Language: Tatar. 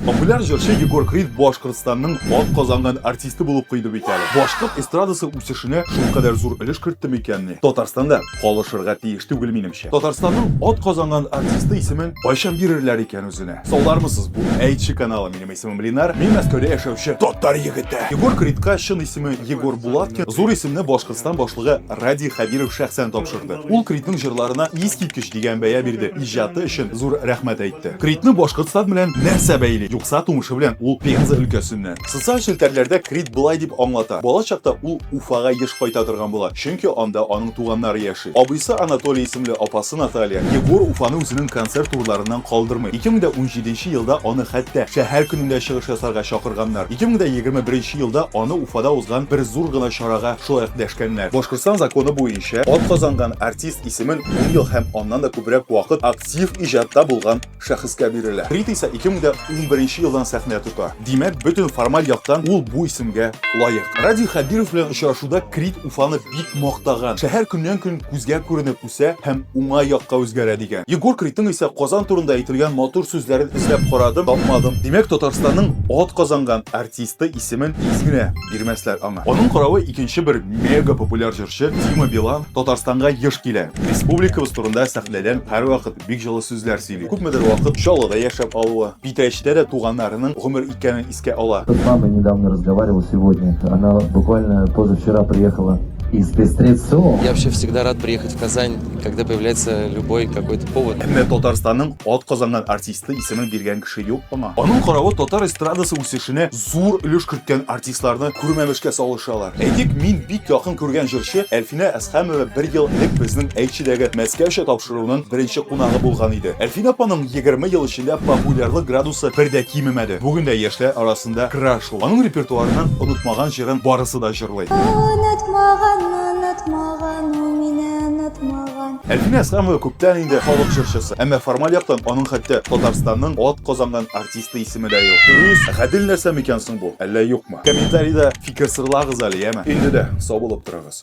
Популяр җырчы Егор Крид Башкортстанның атказанган артисты булып куйды бит әле. Башкорт эстрадасы үсешенә шул кадәр зур өлеш кертте микәнни? Татарстанда калышырга тиеш түгел минемчә. Татарстанның атказанган артисты исемен кайчан бирерләр икән үзенә? Саулармысыз, бу Әйтче каналы. Минем исемем Ленар, мин Мәскәүдә яшәүче татар егете. Егор Кридка чын исеме Егор Булаткин, зур исемне Башкортстан башлыгы Радий Хәбиров шәхсән тапшырды. кызыксынды. Ул Критның җырларына искиткеч дигән бәя бирде, иҗаты өчен зур рәхмәт әйтте. Критны Башкортстан белән нәрсә бәйли? Юкса тумышы белән ул Пенза өлкәсеннән. Социаль челтәрләрдә Крит болай дип аңлата, бала чакта ул Уфага еш кайта торган була, чөнки анда аның туганнары яши. Абыйсы Анатолий исемле, апасы Наталья. Егор Уфаны үзенең концерт турларыннан калдырмый. 2017 нче елда аны хәтта шәһәр көнендә чыгыш ясарга чакырганнар. 2021 нче елда аны Уфада узган бер зур гына чарага шулай ук дәшкәннәр. Башкортстан законы буенча. Шә атказанган артист исемен ун ел һәм аннан да күбрәк вакыт актив иҗатта булган шәхескә бирелә. Фрид исә 2011 елдан сәхнә тота. Димәк, бөтен формаль яктан ул бу исемгә лаек. Радий Хәбиров белән очрашуда Крид Уфаны бик мактаган, шәһәр көннән-көн күзгә күренеп үсә һәм уңай якка үзгәрә дигән. Егор Кридның исә Казан турында әйтелгән матур сүзләрен эзләп карадым, тапмадым. Димәк, Татарстанның атказанган артисты исемен тиз генә бирмәсләр аңа. Аның каравы икенче бер мега популяр җырчы Дима Билан Татарстанга еш килә. Республикабыз турында сәхнәдән һәрвакыт бик җылы сүзләр сөйли. Күпмедер вакыт Чаллыда яшәп алуы, Питрәчтә дә туганнарының гомер иткәнен искә ала. С мамой недавно разговаривал сегодня, она буквально позавчера приехала из Пестрецо. Я вообще всегда рад приехать в Казань, когда появляется любой какой-то повод. Әмма Татарстанның атказанган артисты исемен биргән кеше юк аңа. Аның каравы татар эстрадасы үсешенә зур өлеш керткән артистларны күрмәмешкә салышалар. Әйтик, мин бик якын күргән җырчы Әлфинә Әсхәмова бер ел элек безнең Әйтчедәге Мәскәүчә тапшыруының беренче кунагы булган иде. Әлфинә апаның егерме ел эчендә популярлык градусы бер дә кимемәде. Бүген дә яшьләр арасында краш ул. Аның репертуарыннан онытмаган җырын барысы да җырлый. Онытмаган, онытмаган, ул мине онытмаган. Әлфинә Әсхәмова күптән инде халык җырчысы. Әмма формаль яктан аның хәтта Татарстанның атказанган артисты. Исхакты исеме дә юк. Дөрес, гадел нәрсә микән соң бу? Әллә юкмы? Комментариядә фикер сырлагыз әле, яме? Инде дә сау булып торыгыз.